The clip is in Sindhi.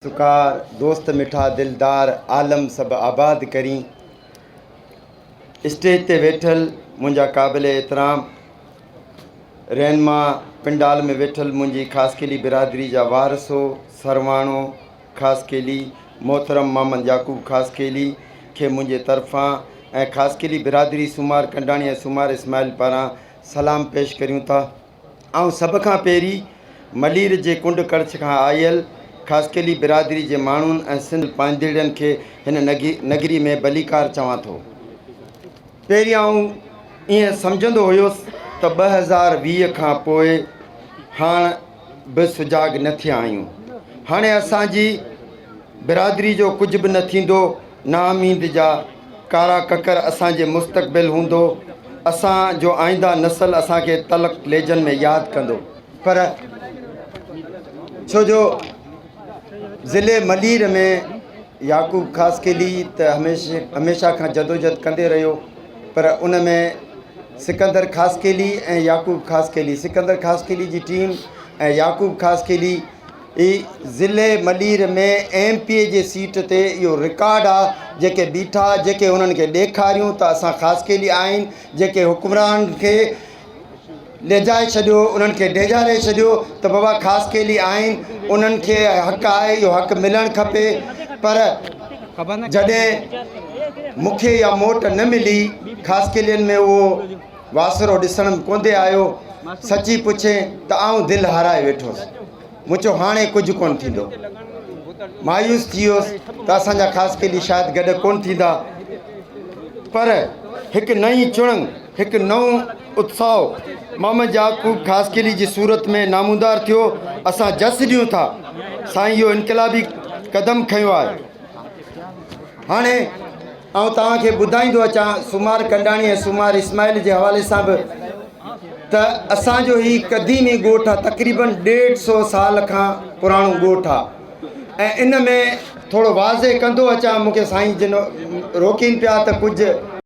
سکا دوست مٺا دلدار عالم سڀ آباد ڪرين. اسٽيج تي ويٺل منهنجا قابل احترام رهنما پنڊال ۾ ويٺل منهنجي خاصخيلي برادري جا وارثو سرواڻو خاصخيلي محترم محمد يعقوب خاصخيلي کي منهنجي طرفان ۽ خاصخيلي برادري سومار ڪنڊاڻي ۽ سومار اسماعيل پاران سلام پيش ڪريون ٿا. آئون سڀ کان پهرين ملير جي ڪنڊ ڪڙڇ کان آيل خاصخيلي برادري جي ماڻهن ۽ سنڌ پائيندڙين کي هن نگري ۾ ڀليڪار چوان ٿو. پهرين آئون ائين سمجهندو هيس ته ٻه هزار ويهه کان پوء هاڻ به سجاڳ نه ٿيا آهيون. هاڻي اسان جي برادري جو ڪجهه به نه ٿيندو. نااميد جا ڪارا ڪڪر اسان جي مستقبل هوندو، اسان جو آئينده نسل اسان کي تلخ ليجن ۾ ياد ڪندو. پر ڇو جو ضلعي ملير ۾ يعقوب خاصخيلي ته هميشه کان جدوجھد ڪندي رهيو پر ان ۾ سڪندر خاصخيلي ۽ يعقوب خاصخيلي سڪندر خاصخيلي جي ٽيم ۽ يعقوب خاصخيلي اي ضلعي ملير ۾ ايم پي اي جي سيٽ تي اهو رڪارڊ آ جيڪي بيٺا جيڪي انهن کي ڏيکاريون ته اسان خاصخيلي آهين جيڪي حڪمران کي ليجائي ڇڏيو انهن کي ڊيڄاري ڇڏيو ته بابا خاصخيلي آهين انهن کي حق آهي اهو حق ملڻ کپي پر جڏهن مکي يا موٽ نه ملي خاصخيلين ۾ اهو واسرو ڏسڻ م ڪونڌي آيو، سچي پڇين ته آئون دل هارائي ويٺوس، مون چيو هاڻي ڪجهه ڪونه ٿيندو. مايوس ٿي ويس ته اسان جا خاص قيدي شايد گڏ ڪونه ٿيندا. پر هڪ نئين چڻنگ، هڪ نئون اتساهه محمد يعقوب خاصخيلي جي صورت ۾ نامودار ٿيو، اسان جس ڏيون ٿا سائين اهو انقلابي قدم کنيو آهي، هاڻي. آئون توهان کي ٻڌائيندو اچان سومار ڪنڊاڻي ۽ سومار اسماعيل جي حوالي سان به ته اسان جو هي قديمي ڳوٺ آ تقريباً ڏيڍ سو سال کان پراڻو ڳوٺ آ ۽ ان ۾ ٿورو واضح ڪندو اچان مونکي سائين جن روڪين پيا ته ڪجهه